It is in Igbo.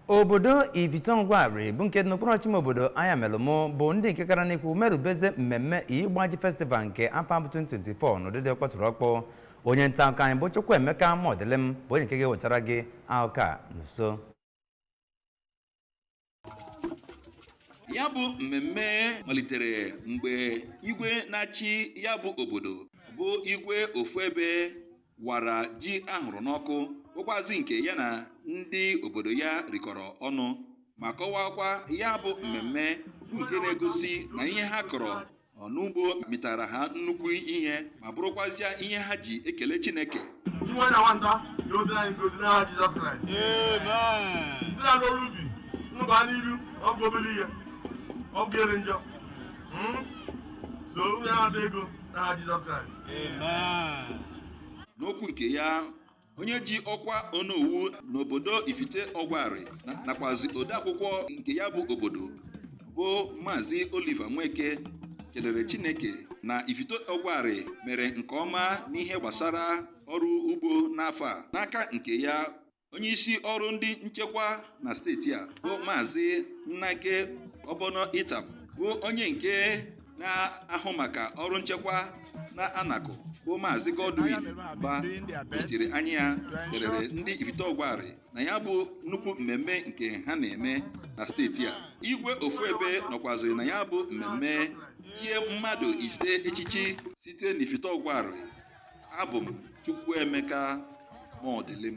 obodo ifite ọgwarị bụ nke dị n'okpuru ọchịchị ime obodo ayamelum bụ ndị nke gara n'ikwu merubeze mmemme igbaji festival nke afọ a bụ 2024 n'ụdị dị ọkpọtụrụ ọkpọ onye nta akụkọ anyị bụ chukwuemeka mọdịlịm bụ onye nke ga-ewetara gị akụkọ a n'uju ya bụ mmemme malitere mgbe igwe na-achị ya bụ obodo bụ igwe ofuebe wara ji a hụrụ n'ọkụ bụkwazị nke ya na ndị obodo ya rikọrọ ọnụ ma kọwakwa ya bụ mmemme bụ nke na-egosi na ihe ha kọrọ n'ugbo mịtara ha nnukwu ihe ma bụrụkwazịa ihe ha ji ekele Chineke Ndị nwa na nwata dị otu anyị ngozi n'aha Jizọs Kraịst. Ndị na-alụ ọrụ ubi unu gaa n'iru ọ bụ obere ihe ọ bụ ere njọ. Mm? So unu ya na-ata ego n'aha Jizọs Kraịst n'okwu nke ya onye ji ọkwa onowu n'obodo ifite ọgwarị nakwazi odeakwụkwọ nke ya bụ obodo bụ maazị Oliver Nweke kelere Chineke na ifite ọgwarị mere nke ọma n'ihe gbasara ọrụ ugbo n'afọ a n'aka nke ya onye isi ọrụ ndị nchekwa na steeti a bụ maazị nnaghe ọbọnọ itam bụ onye nke na-ahụ maka ọrụ nchekwa na anakụ bụ maazị godwin mba nọchiri anya ya kelere ndị ifite ọgwarị na ya bụ nnukwu mmemme nke ha na-eme na steeti a igwe ofuebe nọkwaziri na ya bụ mmemme chie mmadụ ise echichi site n'ifite ọgwarị abụ m chukwuemeka mọdịlịm